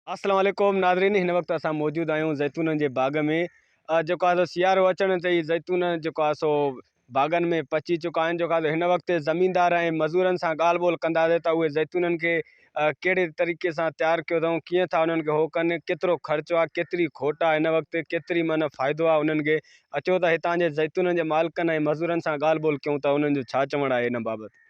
السلام عليڪم ناظرين هن وقت اسان موجود آهيون زيتونن جي باغ ۾ جيڪو آهي سو سيارو اچڻ تي ئي زيتون جيڪو آهي سو باغن ۾ پچي چڪا آهن جيڪو آهي هن وقت زميندار ۽ مزورن سان ڳالهه ٻولهه ڪنداسي ته اهي زيتونن کي ڪهڙي طريقي سان تيار ڪيو اٿئون ڪيئن ٿا انهن کي هو ڪن ڪيترو خرچو آهي ڪيتري کوٽ آهي هن وقت ڪيتري معنيٰ فائدو آهي انهن کي اچو ته هتان جي زيتونن جي مالڪن ۽ مزورن سان ڳالهه ٻولهه ڪيون ته انهن جو ڇا چوڻ آهي ان بابت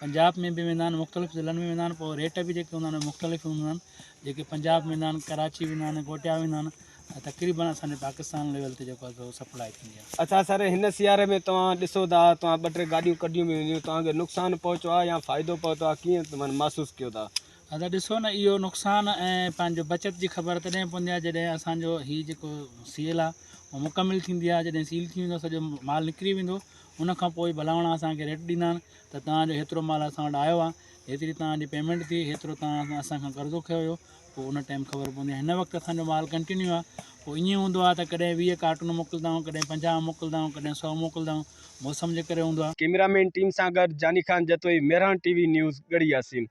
پنجاب ۾ به ويندا آهن مختلف ضلعن ۾ ويندا آهن پوء ريٽ به جيڪي هوندا آهن مختلف هوندا آهن جيڪي پنجاب ويندا آهن ڪراچي ويندا آهن ڪوٽيا ويندا آهن ۽ تقريبن اسانجي پاڪستان ليول تي جيڪو آهي سپلاء ٿيندي آهي. اچا سر هن سياري ۾ توهان ڏسو ٿا توهان ٻه ٽي گاڏيون ڪڍيون به هونديون توهان کي نقصان پهچو آهي يا فائدو پهتو آهي ڪيئن توهان محسوس ڪيو ٿا. ادا ڏسو نه اهو نقصان ۽ پنهنجو بچت جي خبر تڏهن پوندي آهي جڏهن اسانجو هي جيڪو سيل آهي اهو مڪمل ٿيندي آهي جڏهن سيل ٿي ويندو سڄو مال نڪري ويندو ان کان پوء ڀلاوڻا اسانکي ريٽ ڏيندا آهن ته توهان جو هيترو مال اسان وٽ آيو آهي، هيتري توهان جي پيمينٽ ٿي، هيترو توهان اسان کان قرضو کنيو هيو، پوء ان ٽائيم خبر پوندي ۽ هن وقت اسان جو مال ڪنٽينيو آهي، پوء ائين هوندو آهي ته ڪڏهن ويهه ڪارٽون موڪلدائون، ڪڏهن پنجاهه موڪلدائون، ڪڏهن سؤ موڪلدائون، موسم جي ڪري هوندو آهي. ڪيمرا مين ٽيم سان گڏ Jani Khan Jatoi, Mehran T V news, Garhi Yasin.